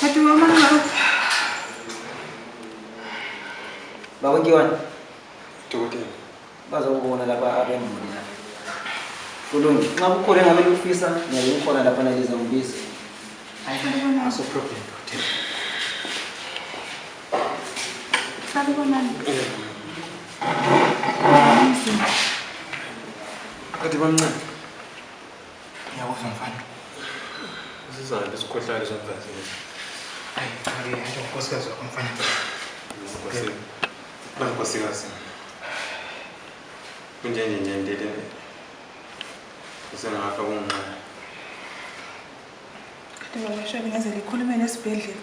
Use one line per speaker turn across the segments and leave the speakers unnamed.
Hadi aman Allah'ım.
Baba Giwan. Tukuti.
Baza kubona
lapha abemuli lapha. Kulungi. Nxa kukhona engabe lufisa, ngiyabe kukhona lapha naliza ngibisa. Hayi salibonani.
Aso problem.
Salibonani.
Kati bamncane. Yawuzwa mfana. Sizana besikhohlakala somfazi. Hayi, hayi, hayi, unkosikazi wakho mfana. Unkosikazi. Bani unkosikazi. Kunjenje nje ndile. Usengafa kunqa.
Kanti baba Shabi ngaze likhulume nesibhedlela.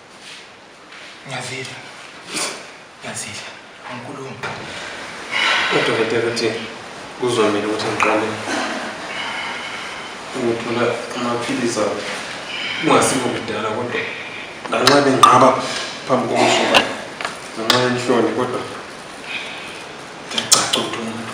Ngiyazidla. Ngiyazidla. Angikhulumi.
Udokotela uthi kuzomele ukuthi ngiqale ukuthola amaphilisi awo kungasikho kudala kodwa lanxa benqaba phambi kokusuka ngenxa yenhloni kodwa ndiyacaca ukuthi umuntu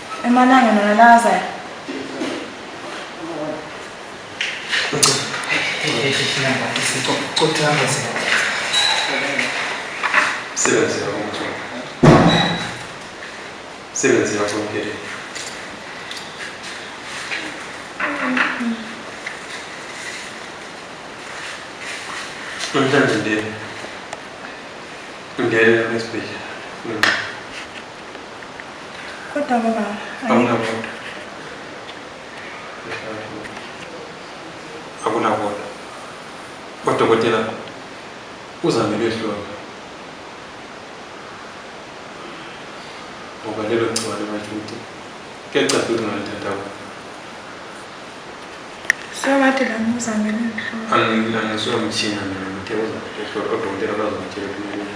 Emalangeni wena lakazayo.
Sebenzi yakho mthombo. Sebenzi yakho mphele. Namhlanje ndiye. Ngeke esibhedlela.
Kodwa baba. Awunabona.
Akunabona. Odokotela uzame behlonga. Ngoba lelo gciwane bathi ukuthi kuyacacisa ukuthi ngalithatha kubo.
Sewakade la ngizame lelo. Angisuka
mthina mina ngithe uzame behlonga odokotela bazongitshela ukuthi kumele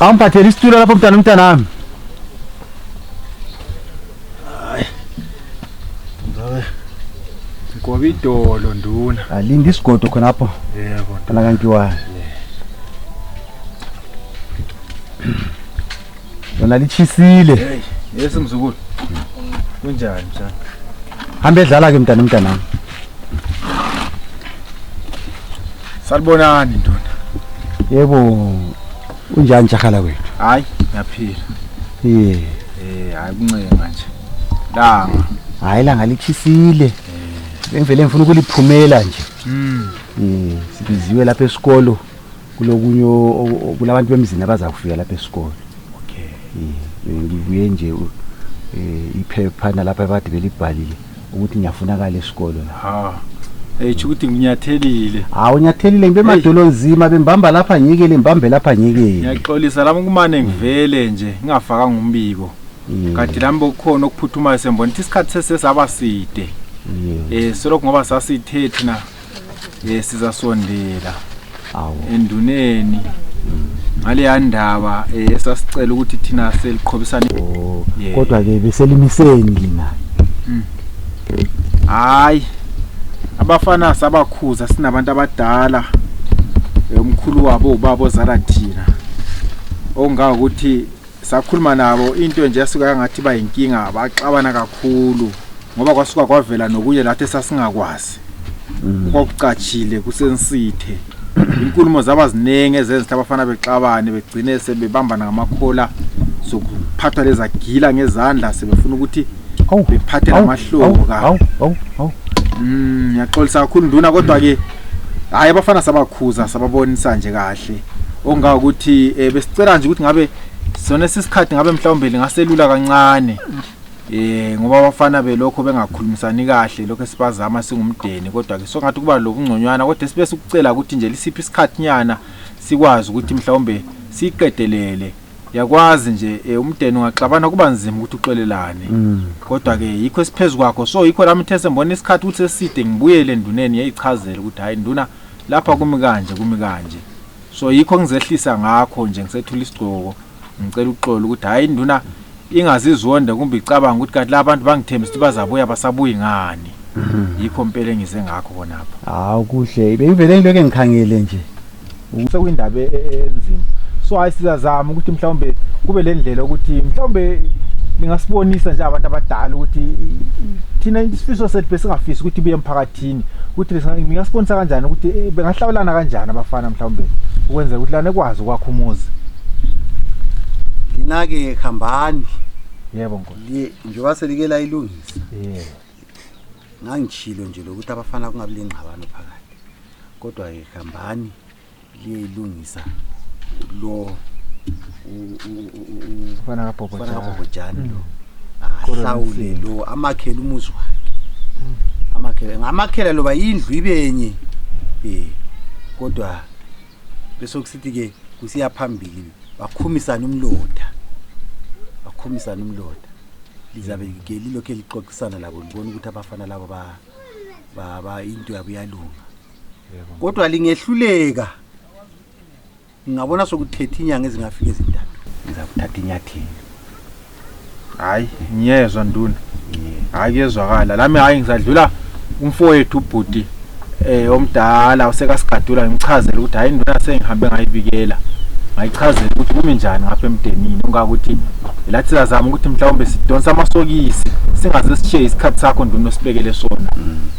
Au mpatie listi ule hapo mtana mtana.
Ngoba idolo nduna. Alinda isigodo khona
hapo. Yebo. Kana
kangiwa.
Lona lichisile. Hey, yesi
mzukulu. Kunjani msana? Hambe
dlala ke mtana mtana.
Salibonani ndoda. Yebo
unjani jahala kwethu? Hayi, ngiyaphila.
Yeah. Eh,
hayi kuncenga nje.
Langa. Hayi langa
lichisile. Bengivele eh. ngifuna ukuliphumela nje. Mm. Eh, sibiziwe lapha esikolo kulokunye kulabantu bemzini abaza kufika lapha esikolo. Okay. Eh, ngibuye nje eh iphepha nalapha abade belibhalile. ukuthi ngiyafunakala esikolo la ha eh
tsho ukuthi nginyathelile hawu unyathelile
ngibe emadolo nzima bembamba lapha ngiyekele mbambe lapha ngiyekele ngiyaxolisa lami kumane
ngivele nje ngingafakanga umbiko Mm, kanti lami bokukhona okuphuthumayo sembona ukuthi isikhathi sesesaba side yeah. um solokhu ngoba sasithe thina ye sizasondela
enduneni
ngaleya ndaba eh, esasicela ukuthi thina seliqhobisane oh, kodwa
ke beselimiseni lina hmm.
hayi abafana sabakhuza sinabantu abadala eh, umkhulu wabo ubaba ozala thina ongakuthi sakhuluma nabo into nje yasuka yangathi bayinkinga baxabana kakhulu ngoba kwasuka kwavela nokunye lathi sasingakwazi mm. kwakucatshile kusensithe inkulumo zaba ziningi ezenza abafana bexabane begcine sebebambana ngamakhola sokuphatha lezagila ngezandla sebefuna ukuthi bephathe namahloko ka mm, ngiyaxolisa kakhulu nduna kodwa-ke hayi abafana sabakhuza sababonisa nje kahle onga ukuthi eh, besicela nje ukuthi ngabe sona sisikhathi ngabe mhlawumbe lingaselula kancane eh ngoba abafana belokho bengakhulumisani kahle lokho esibazama singumdeni kodwa ke songathi kuba lokungconywana kodwa sibe sikucela ukuthi nje lisiphi isikhathi nyana sikwazi ukuthi mhlawumbe siqedelele yakwazi nje eh, umdeni ungaxabana kuba nzima ukuthi uxolelane Mm. kodwa ke yikho esiphezu kwakho so yikho lami uthe sembona isikhathi ukuthi seside ngibuyele enduneni yayichazela ukuthi hayi nduna lapha kumi kanje kumi kanje so yikho ngizehlisa ngakho nje ngisethula isigcoko ngicela uxolo ukuthi hayi nduna ingazizonde kumbe icabanga ukuthi kanti laba bantu bangithembisa ukuthi bazabuya basabuyi ngani yikho mpela engize ngakho khonapha hawu kuhle
bengivele ngilokhu engikhangele nje sekuyindaba
e- e- enzima so hayi sizazama ukuthi mhlawumbe kube le ndlela ukuthi mhlawumbe ningasibonisa nje abantu abadala ukuthi i- i- thina isifiso sethu besingafisi ukuthi buye emphakathini emphakathini ukuthi ngingasibonisa kanjani ukuthi eh, bengahlawulana kanjani abafana mhlawumbe ukwenzela ukuthi lana ekwazi ukwakha umuzi
linake khambani yebo nkosi
njengoba selike
layilungisa yebo ngangishilo
nje lokuthi abafana kungabi lengxabano phakathi kodwa ke khambani liyeyilungisa lo
fana kabhobhojani
mm. lo ahlawule lo amakhele umuzi wakhe mm. amakhele ngamakhela loba indlu ibenye um kodwa besokusithi-ke kusiya phambili bakhumisane umloda bakhumisane umloda lizabe ke lilokhu elixoxisana labo libona ukuthi abafana labo into yabo iyalunga kodwa lingehluleka ngingabona sokuthethe inyanga ezingafika ezintathu ngizakuthatha inyathelo
hayi ngiyezwa nduna hayi kuyezwakala lami hayi ngisadlula umfowethu ubhuti eh omdala usekasigadula ngimchazela ukuthi hayi induna sengihambe ngayibikela ngayichazela ukuthi kumi njani ngapha emdenini ungakuthi lathi sizazama ukuthi mhlawumbe sidonsa amasokisi singaze sishiye isikhathi sakho nduna osibekele sona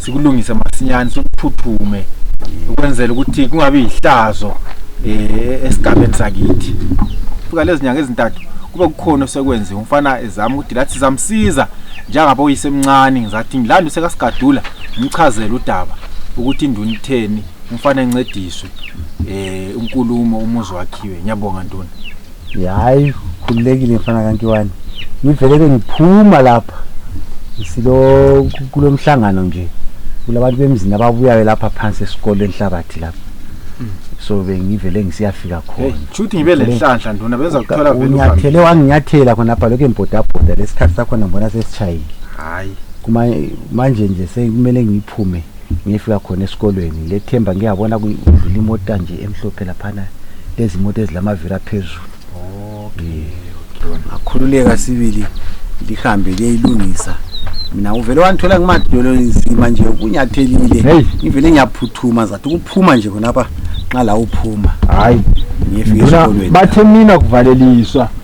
sikulungise masinyane sikuphuthume ukwenzela ukuthi kungabi yihlazo eh esigabeni sakithi fika lezinyanga ezintathu kube kukhona osekwenziwe umfana ezama ukuthi lathi zamsiza njengabo yisemncane ngizathi ngilanda usekasigadula ngichazela udaba ukuthi induna itheni umfana encediswe eh unkulumo umuzi wakhiwe ngiyabonga ntoni hayi
khululekile mfana kankiwani ngivele ke ngiphuma lapha silo kulo mhlangano nje kulabantu bemzini ababuyayo lapha phansi esikole enhlabathi lapha so bengivele ngisiyafika khona shuthi ngibe lenhlanhla
nduna benza kuthola vele uhambe. unyathele wanginyathela
khonapha lokhu embodabhoda lesikhathi sakhona ngibona sesishayile hayi
Kuma- manje
nje sekumele ngiphume ngifika khona esikolweni lethemba ngiyabona kudlula imota nje emhlophe laphana lezi moto ezilamaviri aphezulu
ngakhululeka sibili lihambe liyayilungisa
mina uvele wangithola ngimadolo nzima nje kunyathelile ngivele
ngiyaphuthuma
zathi ukuphuma nje khonapha nxa la uphuma
hayi
bathe
mina kuvaleliswa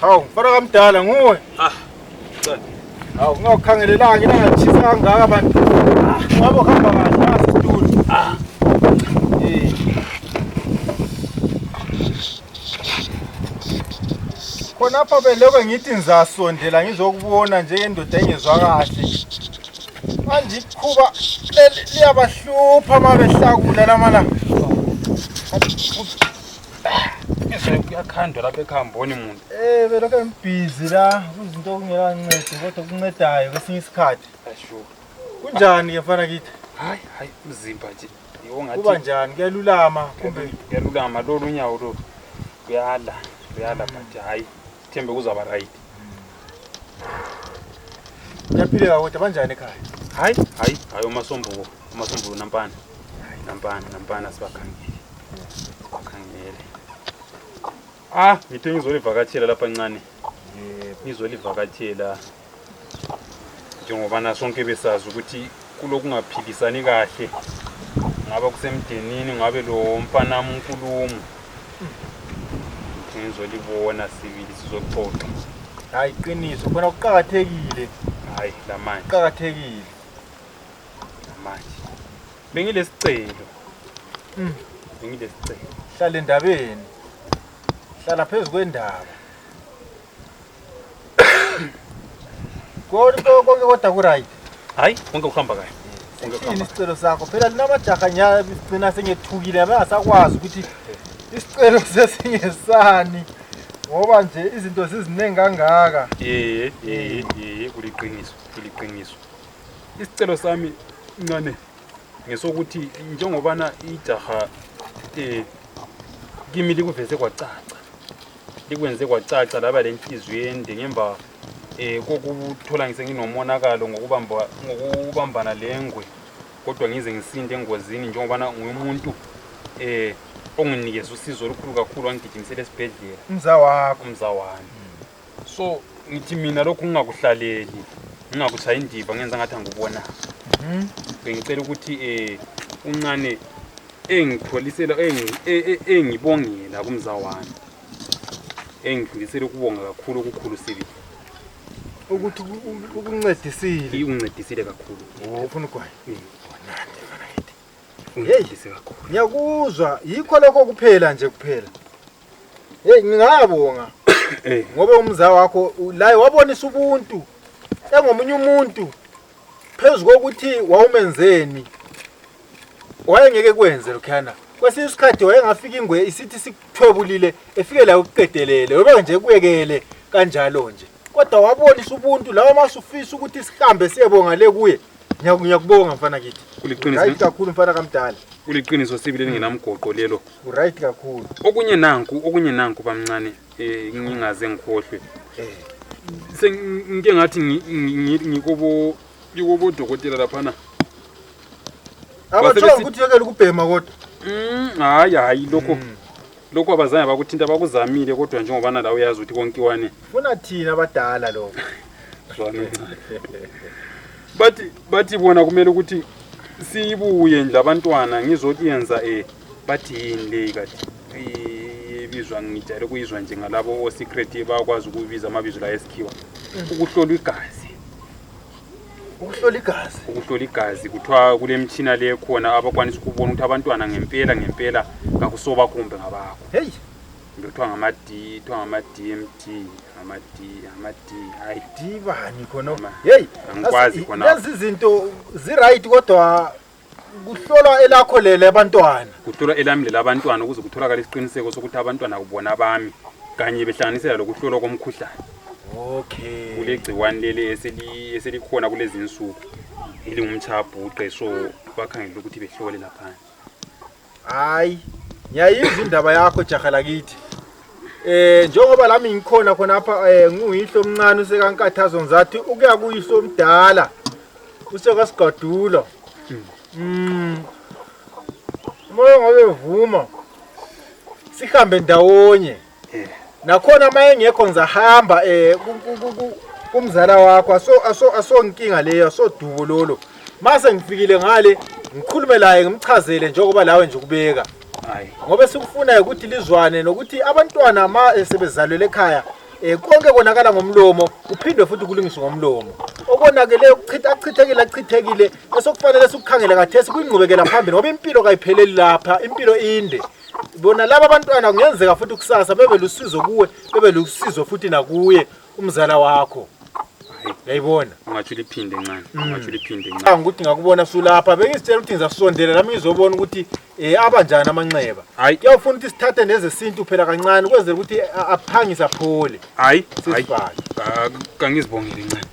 Hawu, mfana kamdala nguwe. Ah. Hawu, ngawukhangelelanga ilanga lishisa kangaka bantu. Ngabo hamba kahle nasi studio. Ah. Eh. Khonapha belokwe ngithi ngizasondela ngizokubona njengendoda engezwa kahle. Manje ikhuba leli liyabahlupha uma behlakula lamalanga.
izolo kuyakhandwa lapha ekuhamboni muntu um eh, belokhu ngibhizi
la kuzinto okungelancedo kodwa kuncedayo kwesinye isikhathi
kunjani
ke mfana kithi hayi hayi
mzimba nje kuba njani kuyalulama
kumbe kuyalulama lolu
unyawo lolu kuyala kuyala but hayi Thembe kuzaba right.
Ngiyaphila kodwa banjani ekhaya? Hayi, hayi,
hayi umasombuko, umasombuko nampana. Nampana, nampana sibakhangile. Sibakhangile. Ah, ngithe ngizolivakatshela lapha ncane. Yebo. Ngizolivakatshela. njengobana sonke besazi ukuthi kulokungaphilisani kahle ngaba kusemdenini ngabe lo mfanami unkulumo ngizolibona sibili sizoxoxa hayi
qiniso khona kuqakathekile hayi
lamanje kuqakathekile
lamanje
bengilesicelo mm.
bengilesicelo hlala endabeni hlala phezu kwendaba Kodi to konge kotakurai. Hai, konge kufamba
kai. Konge kufamba. Ini sicelo
sakho phela linamajaha nya sicina sengethukile abasakwazi ukuthi isicelo sesingesani. Ngoba nje izinto ziziningi kangaka. Eh, eh, eh, kuliqiniso,
kuliqiniso. Isicelo sami ncane ngesokuthi njengobana ijaha eh kimi likuveze kwacaca likwenze kwacaca laba lenhliziyo ende ngemva um kokuthola ngisenginomonakalo ngokubambana lengwe kodwa ngize ngisinde engozini njengobana ngumuntu um onginikeza usizo olukhulu kakhulu wangigijimisela esibhedlela umza wakho umza
wami
so ngithi mina lokhu ngingakuhlaleli ngingakutshayi indiva ngenza ngathi angikubonanga mhm. bengicela ukuthi um uncane engipholisela engi- e- e- engibongela kumza wami engidlulisele ukubonga kakhulu okukhulu sibili
ukuthi uku- uku- ukuncedisile iwuncedisile
kakhulu Oh, ufuna ugwayi uncedise kakhulu ngiyakuzwa
yikho lokho kuphela nje kuphela heyi ngingabonga Eh. ngoba umza wakho u- laye wabonisa ubuntu engomunye umuntu phezu kokuthi wawumenzeni wayengeke kwenze lokhuyana kwesinye isikhathi wayengafika ingwe isithi sikuthwebulile efike layo ukuqedelele webe nje kuyekele kanjalo nje kodwa wabonisa ubuntu lawa masufisa ukuthi sihambe siyebonga le kuye Ngiyaku- ngiyakubonga mfana kithi Kuliqiniso. right kakhulu
mfana kamdala
kuliqiniso sibi
lelingenamgoqo lelo uright kakhulu
okunye nanku
okunye nanku bamncane eh, ngingaze ngikhohlwe Eh. sengike ngathi ngi- ngi- ngi- ngikobo ngikobodokotela laphana abathola
ukuthi yekela ukubhema kodwa mm, hayi hayi
lokho mm. lokho abazange bakuthinta bakuzamile kodwa njengobana la uyazi ukuthi konkiwane funa thina
abadala lokho
bathi bathi bona kumele ukuthi siyibuye nje abantwana ngizothi yenza um eh, bathi yini leyi kati ibizwa ngijayele ukuyizwa nje ngalabo osecret bakwazi ukubiza amabizo la esikhiwa mm. ukuhlolwa igazi ukuhlola igazi ukuhlola igazi kuthiwa kulemitshina le khona abakwanisa ukubona ukuthi abantwana ngempela ngempela kakusoba kumbe ngabakho heyi kumbe kuthiwa ngama-d kuthiwa ngama-d m d ngama-d ngama-d hayi dibani khona
heyi angikwazi khona lezi
zinto
ziright kodwa kuhlolwa elakho lele abantwana kuhlolwa elami lele
abantwana ukuze kutholakale isiqiniseko sokuthi abantwana kubona abami kanye behlanganisela lokuhlolwa komkhuhlane okay
kulegciwani
leli eselikhona kulezi nsuku elingumtshabhuqe so bakhangela ukuthi behlole laphandle
Hayi, ngiyayizwa indaba yakho jaha lakithi. Eh njengoba lami ngikhona khona apha eh nguyihlo omncane usekankathazo ngizathi ukuya kuyihlo omdala usekasigadula. Mm. Moyo ngobe vuma. Sihambe ndawonye. eh. nakhona uma engekho ngizahamba um eh, kumzala wakho asonkinga leyo asodubo lolo uma sengifikile ngale ngikhulume laye ngimchazele njengoba lawe nje ukubeka ngoba
esikufunayo
ukuthi lizwane nokuthi abantwana ma esebezalwele ekhaya um konke konakala ngomlomo kuphindwe futhi kulungiswe ngomlomo okonakele achithekile achithekile esokufanele sikukhangele kathesi kuyingqubekela phambili ngoba impilo kayipheleli lapha impilo inde bona laba abantwana kungenzeka futhi kusasa bebe lusizo kuwe bebe lusizo futhi nakuye umzala wakho yayibona ungatsho uliphinde
ncane mm. ungatsho uliphinde ncane ngicanga ukuthi ngakubona
sulapha bengizitshela ukuthi ngizasondela lami ngizobona ukuthi um abanjani amanxeba hayi kuyawufuna ukuthi
sithathe
nezesintu phela kancane ukwenzela ukuthi aphangise aphole hayi hayi kangizibongeli
ncane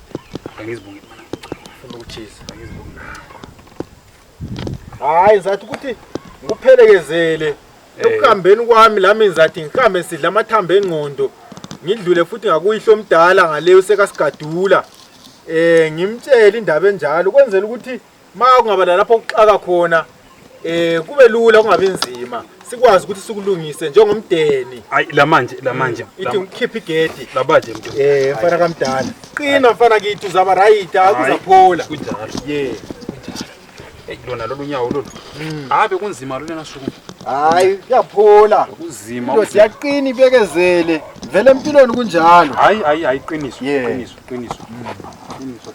kangizibongeli funa
ukuthisa hayi ngizathi ukuthi ngikuphelekezele Eh. ekuhambeni kwami lami ngizathi ngihambe sidla amathambo engqondo ngidlule futhi ngakuyihlo omdala ngale usekasigadula eh ngimtshele indaba enjalo kwenzela ukuthi ma kungaba lalapho kuxaka khona eh kube lula kungabi nzima sikwazi ukuthi sikulungise njengomdeni hayi la manje la
manje mm. ithi ngikhiphe
igedi labaje mntu eh
mfana kamdala
qina mfana kithi uzaba right akuzaphola kunjalo ye
hey lona lolu nyawo lolu mm. habe kunzima lona suku hayi
kuyaphola kunzima into
siyaqina
ibekezele vele empilweni kunjalo hayi hayi hayi qiniso
qiniso qiniso mm. qiniso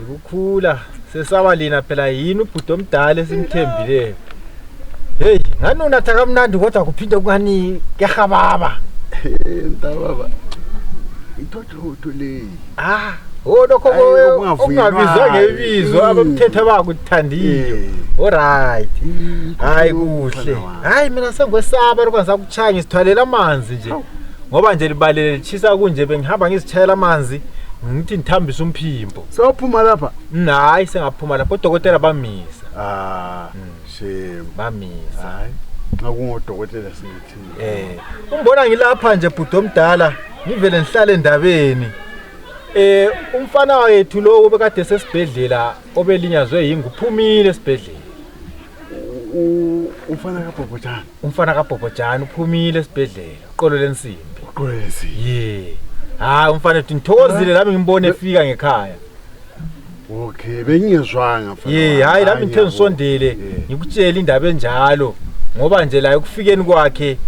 Ukukhula sesaba lina phela yini ubhuti omdala esimthembileyo. Hey, ngani unatha kamnandi kodwa kuphinde kungani kehababa.
Ntababa. Ithothotho leyi. Ah, oh
lokho Ayi, ko- ukungavuyi okungabizwa imali. ngebizo Mm. abamthethe bakuthandile. Eh. Alright. Hayi kuhle. Hayi mina sengikwesaba lokho Cha ngisithwalela amanzi nje. Ngoba nje libalele lichisa kunje bengihamba ngizithayela amanzi ngithi ngithambisa umphimbo. Sawuphuma lapha.
Hayi sengaphuma
lapha odokotela bamisa. Ah, shame.
Bamisa.
Hayi. Nxa
kungodokotela singithini. Eh, umbona ngilapha
nje bhuti omdala ngivele ngihlale endabeni. Eh, umfana wethu lo obekade sesibhedlela obelinyazwe yingu phumile esibhedlela. umfana kabhobhojana umfana kabhobhojana uphumile esibhedlela uqolo lensimbi uqolo lensimbi ye hayi umfana ethi ngithokozile lami ngimbone efika ngekhaya
okay bengingezwanga ye hayi lami ngithe ngisondele
ngikutshele indaba enjalo ngoba nje la ekufikeni kwakhe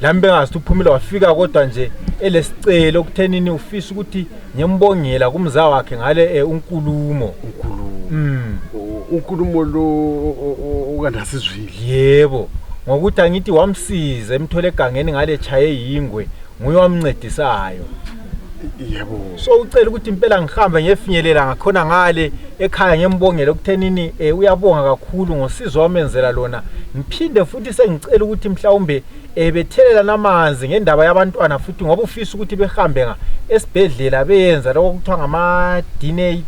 lami bengazithi uphumile wafika kodwa nje elesicelo okuthenini ufisa ukuthi ngimbongela kumza wakhe ngale eh, unkulumo unkulumo mm. unkulumo
lo okanasizwile yebo
ngokuthi angithi wamsiza emthole egangeni ngale chaye yingwe nguye wamncedisayo
yebo so ucela
ukuthi impela ngihambe ngefinyelela ngakhona ngale ekhaya ngembongele ukuthenini eh, uyabonga kakhulu ngosizo wamenzela lona ngiphinde futhi sengicela ukuthi mhlawumbe eh, bethelelana amanzi ngendaba yabantwana futhi ngoba ufisa ukuthi behambe nga esibhedlela beyenza lokho kuthiwa ngama-dna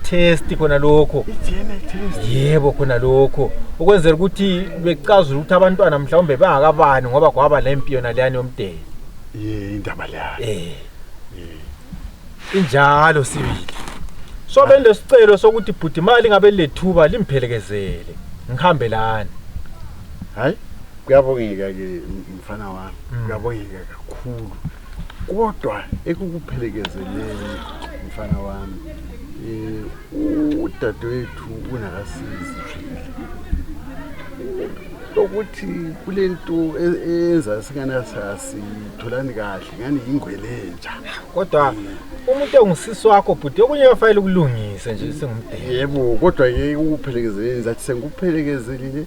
test khona lokho
yebo khona lokho
ukwenzela ukuthi becazule ukuthi abantwana mhlawumbe bangakabani ngoba kwaba le mpi yona leyani yomdeni ye indaba
leyo eh
injalo sibili so bendesicelo sokuthi bhuti imali ngabe lethuba limphelekezele ngihambe lani
hayi kuyabongeka-ke mfana wami mm. kuyabongeka kakhulu kodwa ekukuphelekezeleni mfana wami um udadewethu unakasizi lokuthi kule nto e-, eyenza singana sasitholani kahle ngani yingwelenja kodwa
umuntu ongusisi wakho bhuti okunye kwafanele ukulungise nje singumdeni yebo kodwa yeke
ukuphelekezeleni zathi sengikuphelekezelile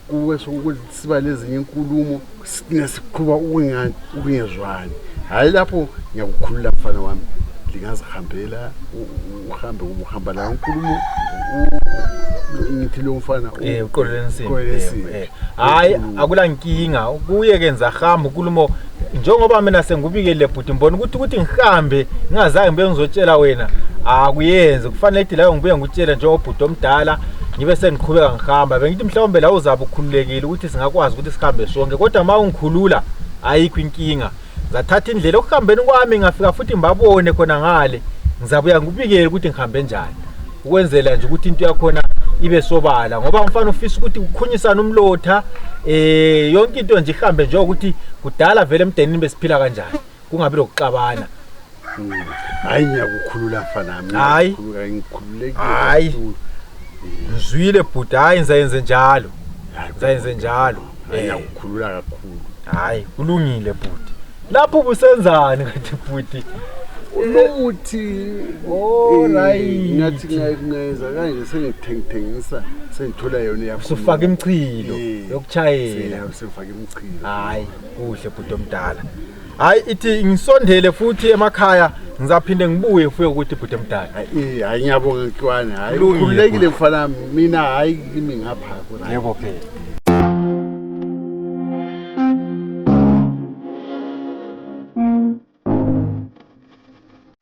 kuwe sokuthi siba nezinye inkulumo sine siqhuba ukungani ukungezwani hayi lapho ngiyakukhulula mfana wami lingazihambela u- uhambe ubuhamba la unkulumo ngithi lo mfana eh uqolele nsini
eh hayi akula nkinga kuye kenza hamba unkulumo njengoba mina sengubikele bhuti mbona ukuthi ukuthi ngihambe ngingazange ngibe ngizotshela wena akuyenzi kufanele ithi layo ngibuye ngikutshele njengobhuti omdala ngibe sengiqhubeka ngihamba bengithi mhlawumbe la uzabe ukhululekile ukuthi singakwazi ukuthi sihambe sonke kodwa uma ungikhulula ayikho inkinga ngathatha indlela ekuhambeni kwami ngafika futhi ngibabone khona ngale ngizabuya ngikubikele ukuthi ngihambe njani ukwenzela nje ukuthi into yakhona ibe sobala ngoba umfana ufisa ukuthi ukhunyisane umlotha eh yonke into nje ihambe nje ukuthi kudala vele emdenini besiphila kanjani kungabi lokuxabana
hayi ngiyakukhulula fanami Hayi. Hayi.
ngikhululekile ngizwile bhuti hayi ngizayenze njalo ngizayenze njalo Eh. ngiyakukhulula
kakhulu hayi kulungile
bhuti lapho ubusenzani kanti bhuti unokuthi
Oh,
right. ngathi
ngayeza kanje sengithengithengisa sengithola yona yakho usufaka imchilo
Eh. yokuchayela sengifaka imchilo
hayi kuhle
bhuti omdala hayi ithi ngisondele futhi emakhaya ngizaphinde ngibuye ufike ukuthi bhuti emdala Eh, hayi ngiyabonga
nkiwane hayi Kulungile, ukhululekile bhuti. mfana wami. mina hayi kimi ngapha right. yebo phela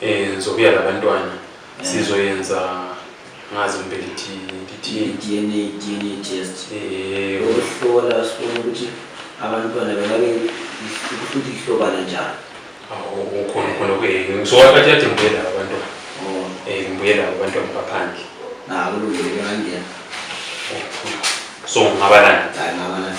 eh ngizobuya labantwana eh. sizoyenza ngazi kumbe lithi lithi DNA DNA
test eh ukuhlola sibone ukuthi abantwana bengabe ukuthi lihlobana njani awu ukhona
khona ke ngizowathatha yathi ngibuye laba abantwana oh eh ngibuye laba abantwana baphandle nabo lungile
ngangena
so ngabalana hayi ngabalana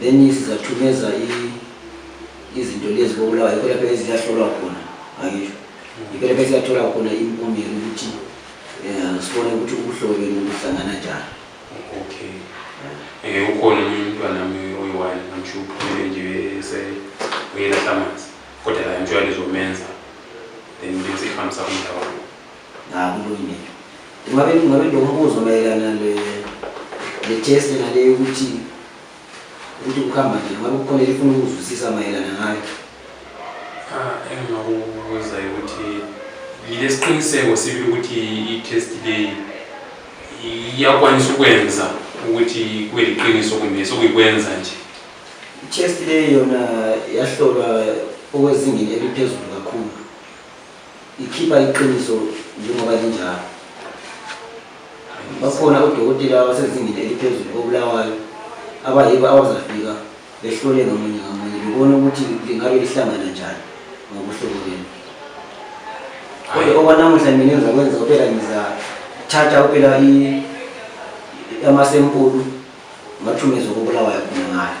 then sizathumeza izinto lezi kobulawa yikho lapho eziyahlolwa khona angisho yikho lapho esiyathola khona impumela ukuthi um sibone ukuthi ubuhlobeni buhlangana njani
okay um ukhona omunye umntwana mi oyi-one amsho uphumele nje uyelahla amanzi kodwa la mtshwala izomenza then bese ihambisa umndawo
akulungile ngabe ngabe ndokubuza mayelana le le test nale ukuthi ukuthi kuhamba nje ngabe kukhona elifuna ukuzwisisa mayelana ngayo ah,
engingakubuza ukuthi yilesiqiniseko sibili ukuthi i-test leyi iyakwanisa ukwenza ukuthi kube liqiniso kumbe sokuyikwenza nje i-test
leyi yona yahlolwa okwezingeni eliphezulu kakhulu ikhipha iqiniso njengoba linjalo bakhona odokotela abasezingeni eliphezulu kobulawayo abayibo abazafika behlole ngamunye ngamunye bebone ukuthi lingabe lihlangana njani ngobuhlobo benu kodwa okwanamuhla mina ngizakwenza kuphela ngizathatha kuphela amasempulu ngathumezwa kobulawayo khona ngayo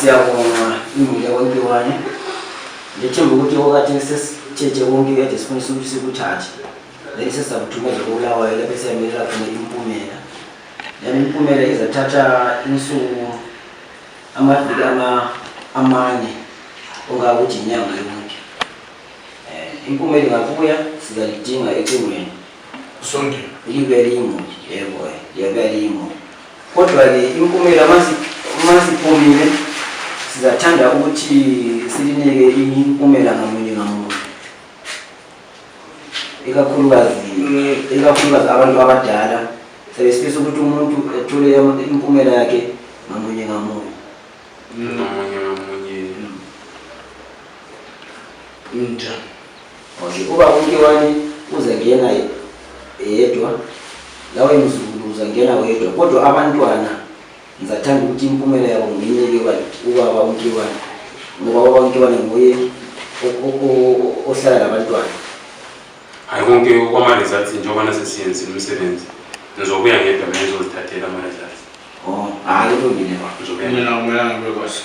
siyabonga imuli yakwakiwane ngethemba ukuthi okwathi sesithethe konke kade sifundisa ukuthi sikuthathe then sesakuthumeza kobulawayo lapho siyamelela khona impumela then impumela izathatha insuku amaviki amane ongakuthi inyanga yonke um impumela ingabuya sizalidinga ecingweni sonke
ibelimu
yebo yebelimu kodwa-ke impumela masiphumile sizathanda ukuthi silinike impumela ngamunye ngamunye ikakhulukazi ikakhulukazi abantu abadala sebesifisa ukuthi umuntu ethule impumela yakhe ngamunye ngamunye ngamunye ngamunye mm. njani Okay, uba umkiwani uzangena yedwa lawe mzukulu uzangena wedwa kodwa abantwana ngizathanda ukuthi impumela yabo nginike ubaba umkiwani ngoba ubaba umkiwani nguye ohlala labantwana
hayi konke kwama-results njengoba nasesiyenzile umsebenzi ngizobuya ngedwa mina ngizozithathela ama-results oh hayi
kulungile ba ngizobuya mina akumelanga kube kwasho